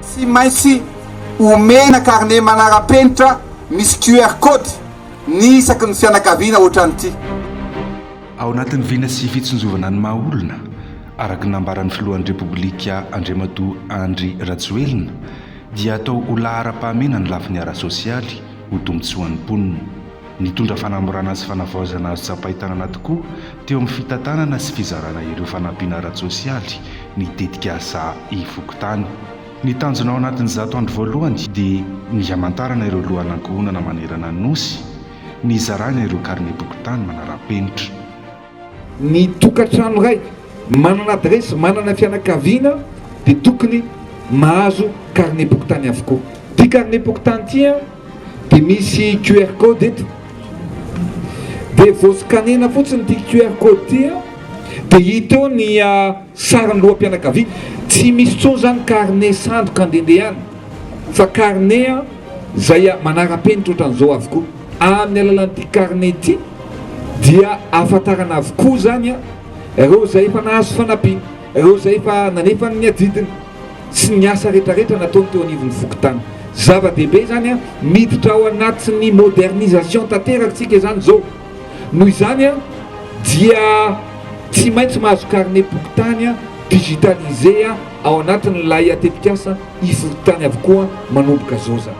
Tsy maintsy omena carnet manara-penitra misy QR code ny isaky ny fianakaviana hoatran'ity. Ao anatin'ny vina sy fitsinjovana ny maha olona, araka ny nambaran'ny filohan'ny Repoblika Andriamatoa Andry Rajoelina, dia atao ho laharam-pahamena ny lafiny ara-tsosialy, ho tombontsoan'ny mponina. Nitondra fanamorana sy fanavaozana azo tsapain-tanana tokoa teo amin'ny fitantanana sy fizarana ireo fanampiana ara-tsosialy ny tetikasa Ifokontany. Ny tanjona ao anatin'ny zato andro voalohany dia ny hamantarana ireo lohan'ankohonana manerana ny Nosy, ny hizarana ireo karinem-pokontany manara-penitra. Ny tokantrano iray manana adiresy, manana fianakaviana dia tokony mahazo karnem-pokontany avokoa. Ity karnem-pokontany ity dia misy QR code eto, dia vao scanner-na fotsiny ity QR code ity dia hita eo ny sarin'ny loham-pianakaviana. Tsy misy intsony izany karne sandoka andehandehanana fa karne izay manara-penitra ohatran'izao avokoa. Amin'ny alalan'ity karne ity dia ahafantarana avokoa izany ireo izay efa nahazo fanampiana, ireo izay efa nanefa ny adidiny sy ny asa rehetrarehetra nataony teo anivon'ny fokontany. Zava-dehibe izany, miditra ao anatin'ny modernisation tanteraka isika izany izao. Noho izany dia tsy maintsy mahazo karne pokontany digitalisé ao anatin'ilay tetikasa iforopitany avokoa manomboka izao izany.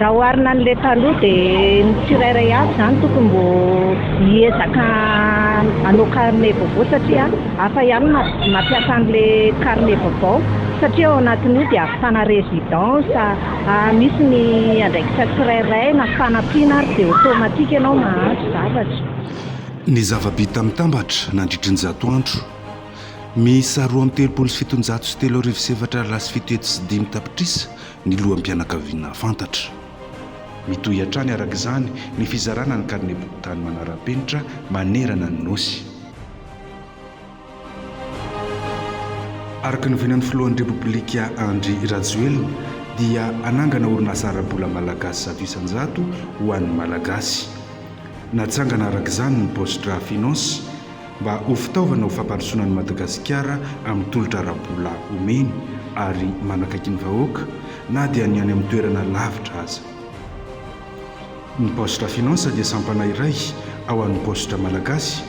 Raha oharina an'ilay taloha dia ny tsirairay avy izany tokony mbô hiezaka hanao carnet vaovao satria hafa ihany ny mampiasa an'ilay carnet vaovao satria ao anatin'io dia ahafana résidence a, misy ny andraikitra tsirairay na fanampiana ary dia automatique ianao mahazo zavatra. Ny zava-bita mitambatra nandritry ny zato andro miisa roa amby telopolo sy fitonjato sy telo arivo sy efatra aly lasa fito hetsy sy dimy tapitrisa ny loham-pianakaviana fantatra. Mitohy hatrany araka izany ny fizarana ny karimebontany manara-penitra manerana ny Nosy. Araka ny vinan'ny filohan'ny Repoblika Andry Rajoelina dia hanangana orinasa ara-bola malagasy zato isan-jato ho an'ny Malagasy. Natsangana araka izany ny Post-dra Finance. mba ho fitaovana ho fampandrosoana an'i Madagasikara amin'ny tolotra ara-bola omeny ary manakaiky ny vahoaka na dia ny any amin'ny toerana lavitra aza. Ny Poste à Finances dia sampana iray ao amin'ny Paositra Malagasy,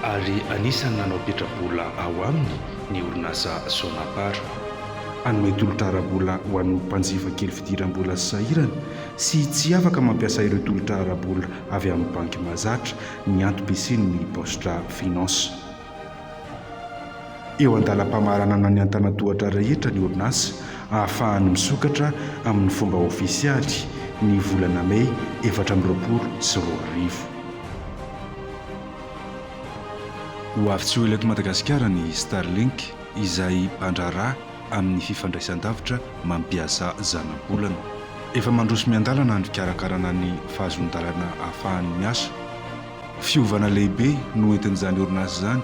ary anisan'ny nanao petra-bola ao aminy ny orinasa Sonapar hanome tolotra ara-bola ho an'ny mpanjifa kely fidiram-bola sy sahirana sy tsy afaka mampiasa ireo tolotra ara-bola avy amin'ny banky mahazatra ny antom-pisian' ny Bostra Finance. Eo an-dalam-pamaranana ny antanan-tohatra rehetra ny orinasa ahafahany misokatra amin' ny fomba ôfisialy ny volana May efatra amby roapolo sy roa arivo. Ho avy tsy ho ela eto Madagasikara ny Starlink izay mpandraharaha amin'ny fifandraisan-davitra mampiasa zanabolana. Efa mandroso miandalana ny fikarakarana ny fahazoan-dalana ahafahany miasa. Fiovana lehibe no entin'izany orinasa izany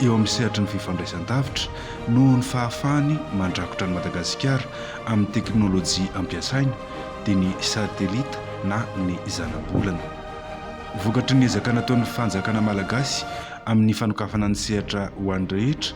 eo amin'ny sehatry ny fifandraisan-davitra noho ny fahafahany mandrakotra an'i Madagasikara amin'ny teknolojia ampiasaina dia ny satelita na ny zanabolana. Vokatry ny ezaka nataon'ny fanjakana malagasy amin'ny fanokafana ny sehatra ho an'ny rehetra